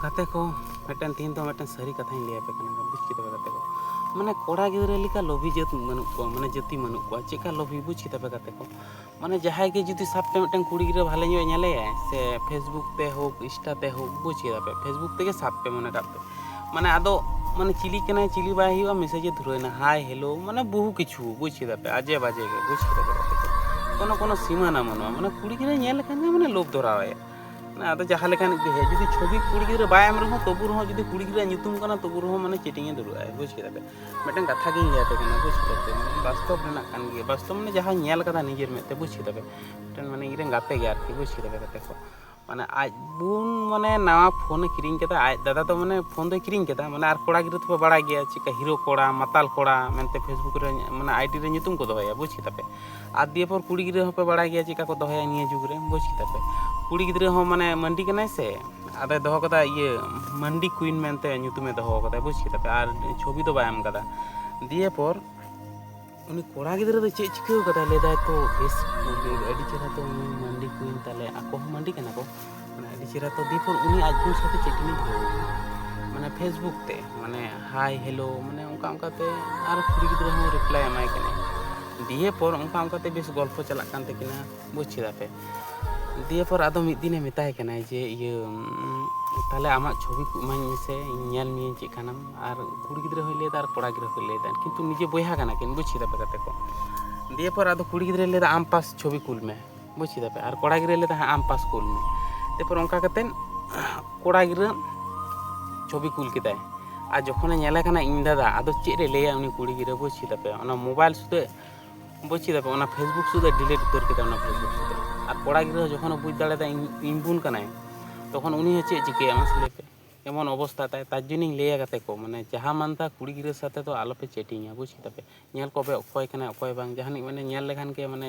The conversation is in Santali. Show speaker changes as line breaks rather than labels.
ᱜᱟᱛᱮ ᱠᱚ ᱢᱤᱫᱴᱮᱱ ᱛᱮᱦᱮᱧ ᱫᱚ ᱢᱤᱫᱴᱮᱱ ᱥᱟᱹᱨᱤ ᱠᱟᱛᱷᱟᱧ ᱞᱟᱹᱭ ᱟᱯᱮ ᱠᱟᱱᱟ ᱵᱩᱡᱽ ᱠᱮᱫᱟ ᱯᱮ ᱜᱟᱛᱮ ᱠᱚ ᱢᱟᱱᱮ ᱠᱚᱲᱟ ᱜᱤᱫᱽᱨᱟᱹ ᱞᱮᱠᱟ ᱞᱚᱵᱷᱤ ᱡᱟᱹᱛ ᱵᱟᱹᱱᱩᱜ ᱠᱚᱣᱟ ᱢᱟᱱᱮ ᱡᱟᱹᱛᱤ ᱵᱟᱹᱱᱩᱜ ᱠᱚᱣᱟ ᱪᱮᱫᱠᱟ ᱞᱚᱵᱷᱤ ᱵᱩᱡᱽ ᱠᱮᱫᱟ ᱯᱮ ᱜᱟᱛᱮ ᱠᱚ ᱢᱟᱱᱮ ᱡᱟᱦᱟᱸᱭ ᱜᱮ ᱡᱩᱫᱤ ᱥᱟᱵ ᱯᱮ ᱢᱤᱫᱴᱮᱱ ᱠᱩᱲᱤ ᱜᱤᱫᱽᱨᱟᱹ ᱵᱷᱟᱞᱮ ᱧᱚᱜ ᱧᱮᱞᱮᱭᱟᱭ ᱥᱮ ᱯᱷᱮᱥᱵᱩᱠ ᱛᱮ ᱦᱳᱠ ᱤᱱᱥᱴᱟ ᱛᱮ ᱦᱳᱠ ᱵᱩᱡᱽ ᱠᱮᱫᱟ ᱯᱮ ᱯᱷᱮᱥᱵᱩᱠ ᱛᱮᱜᱮ ᱥᱟᱵ ᱯᱮ ᱢᱚᱱᱮ ᱠᱟᱜ ᱯᱮ ᱢᱟᱱᱮ ᱟᱫᱚ ᱢᱟᱱᱮ ᱪᱤᱞᱤ ᱠᱟᱱᱟᱭ ᱪᱤᱞᱤ ᱵᱟᱭ ᱦᱩᱭᱩᱜᱼᱟ ᱢᱮᱥᱮᱡᱮ ᱫᱷᱩᱨᱟᱹᱭᱱᱟ ᱦᱟᱭ ᱦᱮᱞᱳ ᱢᱟᱱᱮ ᱵᱚᱦᱩ ᱠᱤᱪᱷᱩ ᱵᱩᱡᱽ ᱠᱮᱫᱟ ᱯᱮ ᱟᱡᱮ ᱵᱟᱡᱮ ᱜᱮ ᱵᱩᱡᱽ ᱠᱮᱫᱟ ᱯᱮ ᱜᱟᱛᱮ ᱠᱚ ᱠᱳᱱᱳ ᱠᱳᱱᱳ ᱥᱤᱢᱟᱹᱱᱟ ᱵᱟᱹᱱᱩᱜᱼᱟ ᱢᱟᱱᱮ ᱠᱩᱲᱤ ᱜᱤᱫᱽᱨᱟᱹ ᱧᱮᱞ ᱞᱮᱠᱷᱟᱱ ᱜᱮ ᱢᱟᱱᱮ ᱞᱳᱵᱷ ᱫᱷᱚᱨᱟᱣᱟᱭᱟ ᱟᱫᱚ ᱡᱟᱦᱟᱸ ᱞᱮᱠᱟᱱ ᱜᱮ ᱦᱮᱡ ᱡᱩᱫᱤ ᱪᱷᱚᱵᱤ ᱠᱩᱲᱤ ᱜᱤᱫᱽᱨᱟᱹ ᱵᱟᱭ ᱮᱢ ᱨᱮᱦᱚᱸ ᱛᱚᱵᱩ ᱨᱮᱦᱚᱸ ᱡᱩᱫᱤ ᱠᱩᱲᱤ ᱜᱤᱫᱽᱨᱟᱹ ᱧᱩᱛᱩᱢ ᱠᱟᱱᱟ ᱛᱚᱵᱩ ᱨᱮᱦᱚᱸ ᱢᱟᱱᱮ ᱪᱤᱴᱤᱝ ᱮ ᱫᱩᱲᱩᱵᱼᱟ ᱵᱩᱡᱽ ᱠᱮᱫᱟ ᱯᱮ ᱢᱤᱫᱴᱟᱝ ᱠᱟᱛᱷᱟ ᱜᱤᱧ ᱞᱟᱹᱭᱟᱯᱮ ᱠᱟᱱᱟ ᱵᱩᱡᱽ ᱠᱮᱫᱟ ᱯᱮ ᱵᱟᱥᱛᱚᱵ ᱨᱮᱱᱟᱜ ᱠᱟᱱ ᱜᱮᱭᱟ ᱵᱟᱥᱛᱚᱵ ᱢᱟᱱᱮ ᱡᱟᱦᱟᱸ ᱧᱮᱞ ᱠᱟᱫᱟ ᱱᱤᱡᱮᱨ ᱢᱮᱫ ᱛᱮ ᱵᱩᱡᱽ ᱠᱮᱫᱟ ᱯᱮ ᱢᱤᱫᱴᱮᱱ ᱢᱟᱱᱮ ᱤᱧᱨᱮᱱ ᱜᱟᱛᱮ ᱜᱮ ᱟᱨᱠᱤ ᱵᱩᱡᱽ ᱠᱮᱫᱟ ᱯᱮ ᱜᱟᱛᱮ ᱠᱚ ᱢᱟᱱᱮ ᱟᱡ ᱵᱩᱱ ᱢᱟᱱᱮ ᱱᱟᱣᱟ ᱯᱷᱳᱱ ᱮ ᱠᱤᱨᱤᱧ ᱠᱮᱫᱟ ᱟᱡ ᱫᱟᱫᱟ ᱫᱚ ᱢᱟᱱᱮ ᱯᱷᱳᱱ ᱫᱚᱭ ᱠᱤᱨᱤᱧ ᱠᱮᱫᱟ ᱢᱟᱱᱮ ᱟᱨ ᱠᱚᱲᱟ ᱜᱤᱫᱽᱨᱟᱹ ᱫᱚᱯᱮ ᱵᱟᱲᱟᱭ ᱜᱮᱭᱟ ᱪᱮᱫᱠᱟ ᱦᱤᱨᱳ ᱠᱚᱲᱟ ᱢᱟᱛᱟᱞ ᱠᱚᱲᱟ ᱢᱮᱱᱛᱮ ᱯᱷᱮᱥᱵᱩᱠ ᱨᱮ ᱢᱟᱱᱮ ᱟᱭᱰᱤ ᱨᱮ ᱧᱩᱛᱩᱢ ᱠᱚ ᱫᱚᱦᱚᱭᱟ ᱵᱩᱡᱽ ᱠᱮᱫᱟ ᱯᱮ ᱟᱨ ᱫᱤᱭᱮ ᱯᱚᱨ ᱠᱩᱲᱤ ᱜᱤᱫᱽᱨᱟᱹ ᱦᱚᱸᱯᱮ ᱵᱟᱲᱟᱭ ᱜᱮᱭᱟ ᱪᱮᱫᱠᱟ ᱠᱚ ᱫᱚᱦᱚᱭᱟ ᱱᱤᱭᱟᱹ ᱡᱩᱜᱽ ᱨᱮ ᱵᱩᱡᱽ ᱠᱮᱫᱟ ᱯᱮ ᱠᱩᱲᱤ ᱜᱤᱫᱽᱨᱟᱹ ᱦᱚᱸ ᱢᱟᱱᱮ ᱢᱟᱹᱱᱰᱤ ᱠᱟᱱᱟᱭ ᱥᱮ ᱟᱫᱚᱭ ᱫᱚᱦᱚ ᱠᱟᱫᱟ ᱤᱭᱟᱹ ᱢᱟᱹᱱᱰᱤ ᱠᱩᱭᱤᱱ ᱢᱮᱱᱛᱮ ᱧᱩᱛᱩᱢᱮ ᱫᱚᱦᱚ ᱠᱟᱫᱟ ᱵᱩᱡᱽ ᱠᱮᱫᱟ ᱯᱮ ᱟᱨ ᱪᱷᱚᱵᱤ ᱫᱚ ᱵᱟᱭ ᱮᱢ ᱠᱟᱫᱟ ᱫᱤᱭᱮ ᱯᱚᱨ ᱩᱱᱤ ᱠᱚᱲᱟ ᱜᱤᱫᱽᱨᱟᱹ ᱫᱚ ᱪᱮᱫ ᱪᱤᱠᱟᱹ ᱠᱟᱫᱟᱭ ᱞᱟᱹᱭᱫᱟᱭ ᱛᱚ ᱵᱮᱥ ᱟᱹᱰᱤ ᱪᱮᱦᱨᱟ ᱛᱚ ᱢᱟᱹᱱᱰᱤ ᱠᱩᱭᱤᱱ ᱛᱟᱦᱞᱮ ᱟᱠᱚ ᱦᱚᱸ ᱢᱟᱹᱱᱰᱤ ᱠᱟᱱᱟ ᱠᱚ ᱢᱟᱱᱮ ᱟᱹᱰᱤ ᱪᱮᱦᱨᱟ ᱛᱚ ᱫᱤᱯᱚᱨ ᱩᱱᱤ ᱟᱡ ᱵᱚᱱ ᱥᱟᱛᱮ ᱪᱮᱫ ᱠᱤᱱ ᱢᱟᱱᱮ ᱯᱷᱮᱥᱵᱩᱠ ᱛᱮ ᱢᱟᱱᱮ ᱦᱟᱭ ᱦᱮᱞᱳ ᱢᱟᱱᱮ ᱚᱱᱠᱟ ᱚᱱᱠᱟᱛᱮ ᱟᱨ ᱠᱩᱲᱤ ᱜᱤᱫᱽᱨᱟᱹ ᱦᱚᱸ ᱨᱤᱯᱞᱟᱭ ᱮᱢᱟᱭ ᱠᱟᱱᱟᱭ ᱫᱤᱭᱮ ᱯᱚᱨ ᱚᱱᱠᱟ ᱚᱱᱠᱟᱛᱮ ᱵᱮᱥ ᱜᱚᱞᱯᱷᱚ ᱪᱟᱞᱟᱜ ᱠᱟᱱ ᱛᱟᱹᱠᱤᱱᱟ ᱵᱩᱡᱽ ᱠᱮᱫᱟ ᱯᱮ ᱫᱤᱭᱮ ᱯᱚᱨ ᱟᱫᱚ ᱢᱤᱫ ᱫᱤᱱᱮ ᱢᱮᱛᱟᱭ ᱠᱟᱱᱟᱭ ᱡᱮ ᱤᱭᱟᱹ ᱛᱟᱦᱞᱮ ᱟᱢᱟᱜ ᱪᱷᱚᱵᱤ ᱠᱚ ᱮᱢᱟᱹᱧ ᱢᱮᱥᱮ ᱤᱧ ᱧᱮᱞ ᱢᱤᱭᱟᱹᱧ ᱪᱮᱫ ᱠᱟᱱᱟᱢ ᱟᱨ ᱠᱩᱲᱤ ᱜᱤᱫᱽᱨᱟᱹ ᱦᱚᱸᱭ ᱞᱟᱹᱭᱫᱟ ᱟᱨ ᱠᱚᱲᱟ ᱜᱤᱫᱽᱨᱟᱹ ᱦᱚᱸᱭ ᱞᱟᱹᱭᱫᱟ ᱠᱤᱱᱛᱩ ᱱᱤᱡᱮ ᱵᱚᱭᱦᱟ ᱠᱟᱱᱟ ᱠᱤᱱ ᱵᱩᱡᱽ ᱠᱮᱫᱟ ᱯᱮ ᱜᱟᱛᱮ ᱠᱚ ᱫᱤᱭᱮ ᱯᱚᱨ ᱟᱫᱚ ᱠᱩᱲᱤ ᱜᱤᱫᱽᱨᱟᱹᱭ ᱞᱟᱹᱭᱫᱟ ᱟᱢ ᱯᱟᱥ ᱪᱷᱚᱵᱤ ᱠᱩᱞ ᱢᱮ ᱵᱩᱡᱽ ᱠᱮᱫᱟ ᱯᱮ ᱟᱨ ᱠᱚᱲᱟ ᱜᱤᱫᱽᱨᱟᱹ ᱞᱟᱹᱭᱫᱟ ᱦᱮᱸ ᱟᱢ ᱯᱟᱥ ᱠᱩᱞ ᱢᱮ ᱮᱨᱯᱚᱨ ᱚᱱᱠᱟ ᱠᱟᱛᱮ ᱠᱚᱲᱟ ᱜᱤᱫᱽᱨᱟᱹ ᱪᱷᱚᱵᱤ ᱠᱩᱞ ᱠᱮᱫᱟᱭ ᱟᱨ ᱡᱚᱠᱷᱚᱱᱮ ᱧᱮᱞᱮ ᱠᱟᱱᱟ ᱤᱧ ᱫᱟᱫᱟ ᱟᱫᱚ ᱪᱮᱫ ᱮ ᱞᱟᱹᱭᱟ ᱩᱱᱤ ᱠᱩᱲᱤ ᱜᱤᱫᱽᱨᱟᱹ ᱵᱩᱡᱽ ᱠᱮᱫᱟ ᱯᱮ ᱚᱱᱟ ᱢᱳᱵᱟᱭᱤᱞ ᱥᱩᱫᱷᱟᱹ ᱵᱩᱡᱽ ᱠᱮᱫᱟ ᱯᱮ ᱚᱱᱟ ᱯᱷᱮᱥᱵᱩᱠ ᱥᱩᱫᱷᱟᱹ ᱰᱤᱞᱤᱴ ᱩᱛᱟᱹᱨ ᱠᱮᱫᱟ ᱚᱱᱟ ᱯᱷᱮᱥᱵᱩᱠ ᱥᱩᱫᱷᱟᱹ ᱟᱨ ᱠᱚᱲᱟ ᱜᱤᱫᱽᱨᱟᱹ ᱡᱚᱠᱷᱚᱱᱮ ᱵᱩᱡᱽ ᱫᱟᱲᱮᱭᱟᱫᱟ ᱤᱧ ᱵᱩᱱ ᱠᱟᱱᱟᱭ ᱛᱚᱠᱷᱚᱱ ᱩᱱᱤ ᱦᱚᱸ ᱪᱮᱫ ᱪᱤᱠᱟᱹᱭᱟ ᱢᱟᱥᱮ ᱞᱟᱹᱭ ᱯᱮ ᱮᱢᱚᱱ ᱚᱵᱚᱥᱛᱟ ᱛᱟᱭ ᱛᱟᱨ ᱡᱚᱱᱤᱧ ᱞᱟᱹᱭᱟ ᱜᱟᱛᱮ ᱠᱚ ᱢᱟᱱᱮ ᱡᱟᱦᱟᱸ ᱢᱟᱱᱛᱟ ᱠᱩᱲᱤ ᱜᱤᱫᱽᱨᱟᱹ ᱥᱟᱛᱮ ᱫᱚ ᱟᱞᱚᱯᱮ ᱪᱮᱴᱤᱝᱟ ᱵᱩᱡᱽ ᱠᱮᱫᱟ ᱯᱮ ᱧᱮᱞ ᱠᱚᱯᱮ ᱚᱠᱚᱭ ᱠᱟᱱᱟᱭ ᱚᱠᱚᱭ ᱵᱟᱝ ᱡᱟᱦᱟᱱᱤᱡ ᱢᱟᱱᱮ ᱧᱮᱞ ᱞᱮᱠᱷᱟᱱ ᱜᱮ ᱢᱟᱱᱮ